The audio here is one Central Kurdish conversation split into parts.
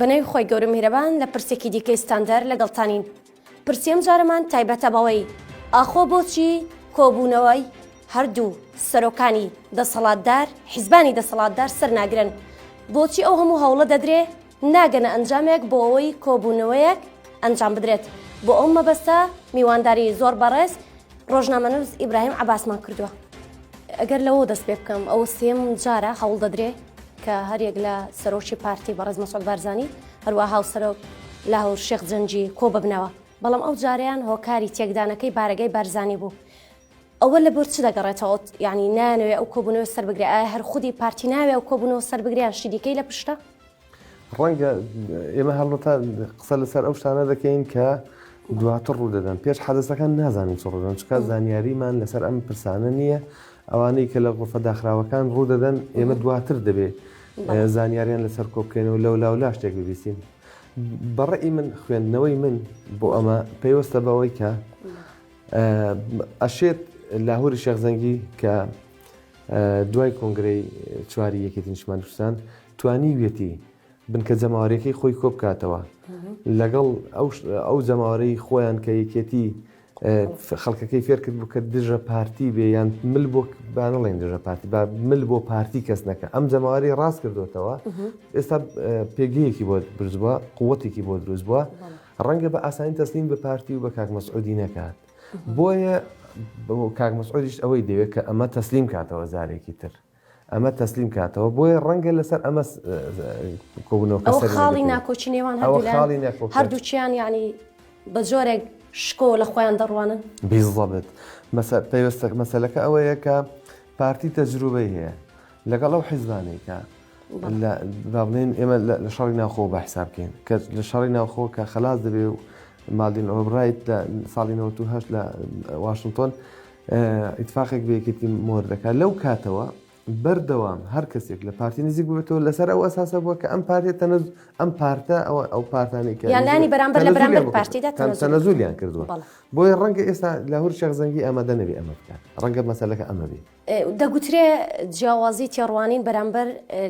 بەنەوی خۆی گەورە میرەبان لە پرسێکی دیکەی ستاندەر لەگەڵتانین پرسیەم جارەمان تایبەتە بەوەی ئاخۆ بۆچی کۆبوونەوەی هەردوو سەرۆکانی دەسەڵاتدار حیزبانی دەسەڵاتدار سەر ناگرن بۆچی ئەو هەموو هەوڵە دەدرێ ناگەنە ئەنجامێک بۆ ئەوەی کۆبوونەوەیەک ئەنجام بدرێت بۆ ئەو مەبەستە میوانداری زۆر بەڕێز ڕۆژنامەنووس ئیبراهیم عباسمان کردووە ئەگەر لەوە دەست پێ بکەم ئەو سێم جارە هەوڵ دەدرێ کە هەرێک لە سەرۆکی پارتی بەڕێز مەسۆل بارزانانی هەروە هاوسەرۆک لە هەور شێخ جەنجی کۆ ببنەوە بەڵام ئەو جاریان هۆکاری تێکدانەکەی بارەگەی بارزانانی بوو. ئەوە لە بۆر چ دەگەڕێتەوە ینی نانەوێ ئەو کۆبوونەوە سەر بگرێ ئایا هەر خودی پارتی ناوێ ئەو کۆبوونەوە سەر بگریان شیدیکەی لە پشتە ڕەنگە ئێمە هەڵبەتە قسە لەسەر ئەو شتانە دەکەین کە دواتر ڕوو دەدەن پێش حەدەسەکان نازانین چ ڕۆژن چکە زانیاریمان لەسەر ئەم پرسانە نییە ئەوانەی کە لە غرفە داخراوەکان ڕوو دەدەن ئێمە دواتر دەبێت زانیاریان لەسەر کۆبکەینەوە لەو لاو لا شتێک ببیستین بەڕێی من خوێندنەوەی من بۆ ئەمە پێیوەستە بەوەی کە ئەشێت لاهوری شێخزەنگی کە دوای کۆنگرەی چواری یەکێتی نیشتمانی کوردستان توانیویەتی بنکە جەماوەریەکەی خۆی کۆبکاتەوە لەگەڵ ئەو جەماوەرەی خۆیان کە یەکێتی خەڵکەکەی فێرکرد بوو کە دژە پارتی بێ یان مل بۆ بانەڵێن دژە پارتی با مل بۆ پارتی کەس نەکە ئەم جەماوەری ڕاست کردوێتەوە ئێستا پێگەیەکی بۆ برزبووە قوتێکی بۆ دروست بووە ڕەنگە بە ئاسانی تەسلیم بە پارتی و بە کاک مەسعودی نەکات بۆیە کاک مەسعودیش ئەوەی دەوێت کە ئەمە تەسلیم کاتەوە زارێکی تر ئەمە تەسلیم کاتەوە بۆیە ڕەنگە لەسەر ئەمە کۆبنەوە خاڵی ناکۆچی نێوان هەردووچیان ینی بە جۆرێک شکۆ لە خۆیان دەڕوانن بیزڵبێت پێوەستەک مەسلەکە ئەوەیە کە پارتی تەجروبەی هەیە لەگەڵ ئەو حیزبانێکە با بڵێن ئێمە لە شەڕی ناوخۆ بە حساب بکەین کە لە شەڕی ناوخۆ کە خلاص دەبێ و مادین ئۆبرایت لە ساڵی 1970 لە واشنگتۆن ئیتفاقێک بەیەکێتی مۆر دەکات لەو کاتەوە بەردەوام هەر کەسێک لە پارتی نزیک بێتەوە لەسەر ئەو ئەساسە بووە کە ئەم پارێت تەنز ئەم پارتە ئەوە ئەو پارتانی کە یانانی بەرامبەر لە بەرامبەر پارتیدا تەنەزولیان کردووە بۆیە ڕەنگە ئێستا لە هەر شێخ زەنگی ئامادە نەبێ ئەمە بکات ڕەنگە مەسلەکە ئەمە بێت دەگوترێ جیاوازی تێڕوانین بەرامبەر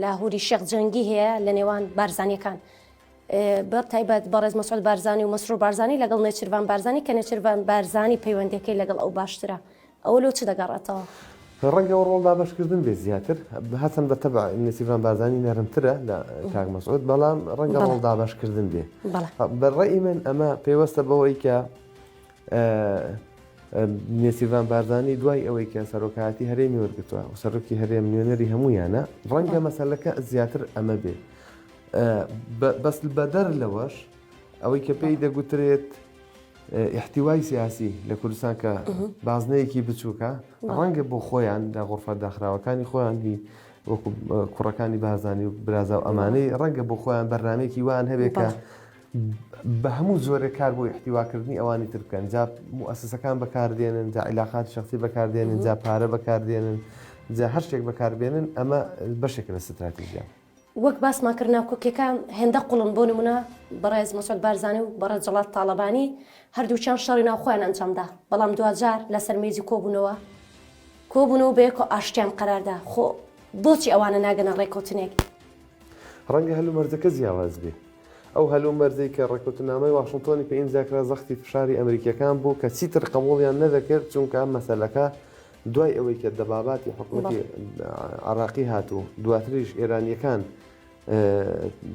لاهوری شێخ جەنگی هەیە لە نێوان بارزانیەکان بە تایبەت بەڕێز مەسعود بارزانانی و مەسرور بارزانانی لەگەڵ نێچربان بارزانانی کە نێچربان بارزانانی پەیوەندەکەی لەگەڵ ئەو باشترە ئەوە لۆ چ دەگەڕێتەوە ڕەنگە و ڕۆڵدا بەشکردن بێ زیاتر هەچەند بە تەبع نسیڤان بارزانانی نەرمترە لە کاک مەسعود بەڵام ڕەنگە ڕۆڵدا بەشکردن بێ بەڕێ من ئەمە پێوەستە بەوەی کە نێچیرڤان بارزانانی دوای ئەوەی کە سەرۆکایەتی هەرێمی وەرگتووە و سەرۆکی هەرێم نوێنەری هەمویانە ڕەنگە مەسلەکە زیاتر ئەمە بێ بەس بەدەر لەوەش ئەوەی کە پێی دەگوترێت احتیوای سیاسی لە کوردستان کە بازنەیەکی بچووکە ڕەنگە بۆ خۆیان لە غرفە داخراوەکانی خۆیان هی وەکو کوڕەکانی بازانی و برازا و ئەمانەی ڕەنگە بۆ خۆیان بەرنمێکی وان هەبێت کە بەهەموو جۆرێک کار بۆ ئیحتیواکردنی ئەوانی تر بکەن جا موسسەکان بەکاردێنن جا عیلاقات شخصی بەکاردێنن جا پارە بەکاردێنن جا هەر شتێک بەکاربێنن ئەمە بەشێک لە ستراتیژە. وەک باسمان کرد ناکۆکیەکە هێندە قوڵن بۆ نمونە بەڕێز مەسعود بارزانی و بەڕێز جەڵال تاڵەبانی هەردووکیان شەڕی ناوخۆیان ئەنجامدا بەڵام دواجار لەسەر مێزی کۆبوونەوە کۆبوونەوە بەیەکەوە ئاشتیان قەراردا خۆ بۆچی ئەوانە ناگەنە ڕێکەوتنێک ڕەنگە هەلومەرجەکە جیاواز بێ. ئەو هەلومەرجەی کە ڕێککەوتنامەی واشنتۆنی پێ ئیمزاکرا زەختی فشاری ئەمریکییەکان بوو کە چیتر قبوڵیان نەدەکرد چونکە ئەم مەسەلەکە دوای ئەوەی کە دەباباتی حکوومەتی عراقی هات و دواتریش ئێرانیەکان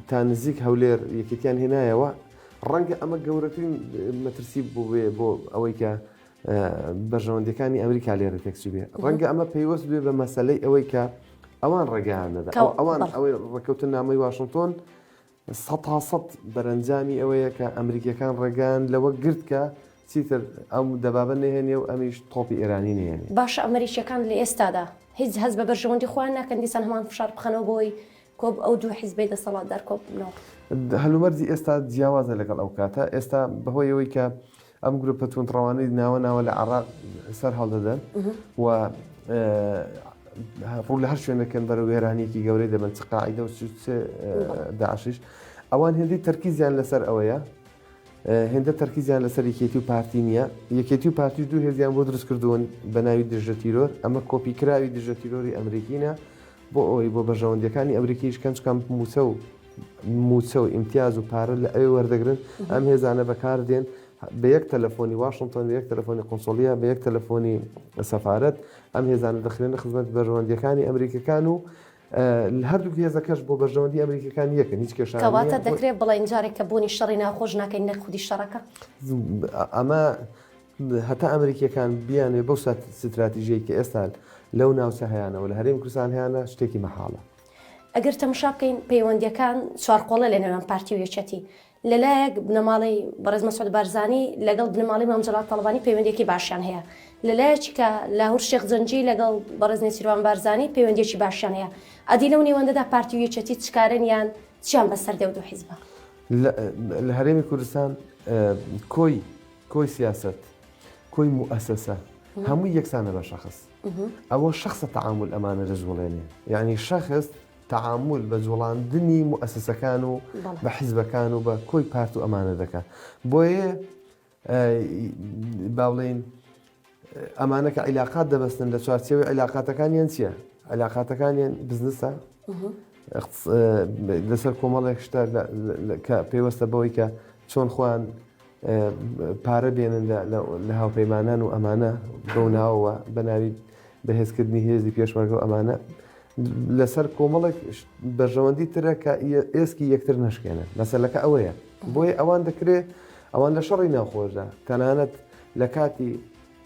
تا نزیک هەولێر یەکێتیان هێنایەوە ڕەنگە ئەمە گەورەترین مەترسی بووێ بۆ ئەوەی کە بەرژەوەندەکانی ئەمریکا لێرە تێکچ بێ ڕەنگە ئەمە پەیوەست بێ بە مەسلەی ئەوەی کە ئەوان ڕێگەیان نەدا ئەوان ئەوەی ڕێککەوتن نامەی واشنگتۆن سە تاسەد بەرەنجامی ئەوەیە کە ئەمریکیەکان ڕێگەیان لەوە گرت کە چیتر ئەم دەبابە نهێنێ و ئەمیش تۆپی ئێرانی نێن باش ئەمریکیەکان لە ئێستادا هیچ هەز بە بەرژەوەندی خۆیان ناکەن دیسان هەمان فشار بخەنەوە بۆی کۆب ئەو دوو حیزبەی دەسەڵاتدار کۆک بنەوە. هەلومەرجی ئێستا جیاوازە لەگەڵ ئەو کاتە، ئێستا بەهۆی ئەوەی کە ئەم گروپە توندڕەوانەی ناوە ناوە لە عراق سەر هەڵدەدەن و ڕوو لە هەر شوێنەکەن بەرە وێرانێکی گەورەی دەبن چقاعدە و داعشش ئەوان هێندی تەرکیزیان لەسەر ئەوەیە هێندە تەرکیزیان لەسەر یەکێتی و پارتی نییە، یەکێتی و پارتیش دوو هێزیان بۆ دروستکردوون بە ناوی دژەتیرۆر، ئەمە کۆپیکراوی دژەتیرۆری ئەمریکینە بۆ ئەوەی بۆ بەرژەوەندییەکانی ئەمریکیش کەنج کەم مووچە و مووچە و ئیمتیاز و پارە لە ئەوێ وەردەگرن، ئەم هێزانە بەکاردێن بە یەک تەلەفۆنی واشنتۆن، بە یەک تەلەفۆنی قونسڵییە، بە یەک تەلەفۆنی سەفارەت ئەم هێزانە دەخرێنە خزمەت بەرژەوەندییەکانی ئەمریکییەکان و هەردوو هێزەکەش بۆ بەرژەوەندی ئەمریکیەکان یەکن هیچ کێشە کەواتە دەکرێت بڵێن جارێک کە بوونی شەڕی ناخۆش ناکەین نەک خودی شەڕەکە ئەمە هەتا ئەمریکیەکان بیانێ بەو سات ستراتیژەی کە ئێستا لەو ناوچە هەیەەوە لە هەرێم کوردستان هیانە شتێکی مەحاڵە ئەگەر تەمشا بکەین پەیوەندیەکان چوارقۆڵە لە نێوان پارتی و یەکەتی لەلایەک بنەماڵەی بەڕێز مەسعود بارزانی لەگەڵ بنەماڵەی مام جەلال تاڵەبانی پەیوەندیەکی باشیان هەیە لە لایەکی کە لاهور شێخ جەنجی لەگەڵ بەڕێز نێچیروان بارزانی پەیوەندیەکی باشیان هەیە ئەدی لەو نێوەندەدا پارتی و یەکێتی چکارن یان چیان بەسەر دەو دوو حیزبە لە هەرێمی کوردستان کۆی کۆی سیاست کۆی موئسسە هەموو یەکسانە بە شخص ئەوە شخصە تعامل ئەمانە دەست وڵێنێ یعنی شخص تەعامول بە جوڵاندنی موئەسسەکان و بە حیزبەکان و بە کۆی پارت و ئەمانە دەکات بۆیە با بڵێین ئەمانە کە عیلاقات دەبستن لە چوارچەوەی عیلاقاتەکانیان چییە؟ عیلاقاتەکانیان بزنسە لەسەر کۆمەڵێک شتە کە پێوەستە بەوەی کە چۆن خۆیان پارە بێنن لە هاوپەیمانان و ئەمانە بەو ناوەوە بە ناوی بەهێزکردنی هێزی پێشمەرگە و ئەمانە لەسەر کۆمەڵێک بەرژەوەندی ترە کە ئێسکی یەکتر نشکێنن مەسلەکە ئەوەیە بۆیە ئەوان دەکرێت ئەوان لە شەڕی ناوخۆشدا تەنانەت لە کاتی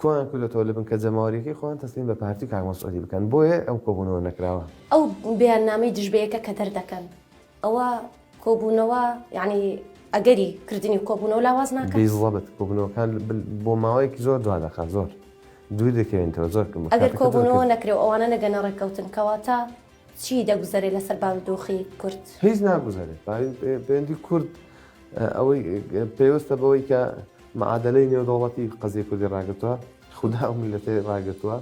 کوان کردۆتەوە لە بنکە جەماوەریەکەی خۆیان تەسلیم بە پارتی و کاک مەسعودی بکەن بۆیە ئەو کۆبونەوە نەکراوە. ئەو بەیاننامەی دژ بەیەکە کە دەردەکەن ئەوە کۆبونەوە یانی ئەگەری کردنی کۆبونەوە لاواز ناکات؟ بیزەبت کۆبونەوەکان بۆ ماوەیەکی زۆر دوا دەخات زۆر دوور دەکەوێنتەوە زۆر کەم ئەگەر کۆبونەوە نەکرێ ئەوانە نەگەنە ڕێککەوتن کەواتە چی دەگوزەرێ لەسەر بارودۆخی کورد هیچ ناگوزەرێت پێوەندی کورد ئەوەی پێوەستە بەوەی کە معادەلەی نێودەوڵەتی قەزیە کوردی ڕاگرتوە خودا ئەو میلەتەی ڕاگرتوە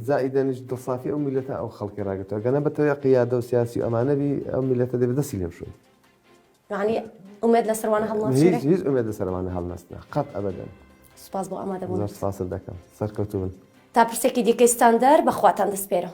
زائیدەنیش دڵسافی ئەو میلەتە ئەو خەڵکی ڕاگرتوە گەنە بەتەوێ قیادە و سیاسی و ئەمانەبی ئەو میلەتە دێ بەدەسی لێم شوێن یعنی ئومێد لە سەروانە هەڵ هیچ هیچ ئومێد لە سەروانە هەڵنەستە قەت ئەبەدەن سپاس بۆ ئامادەبوون سپاست دەکەم سەرکەوتوون تا پرسێکی دیکەی ستاندەر بەخواتان دەسپێرم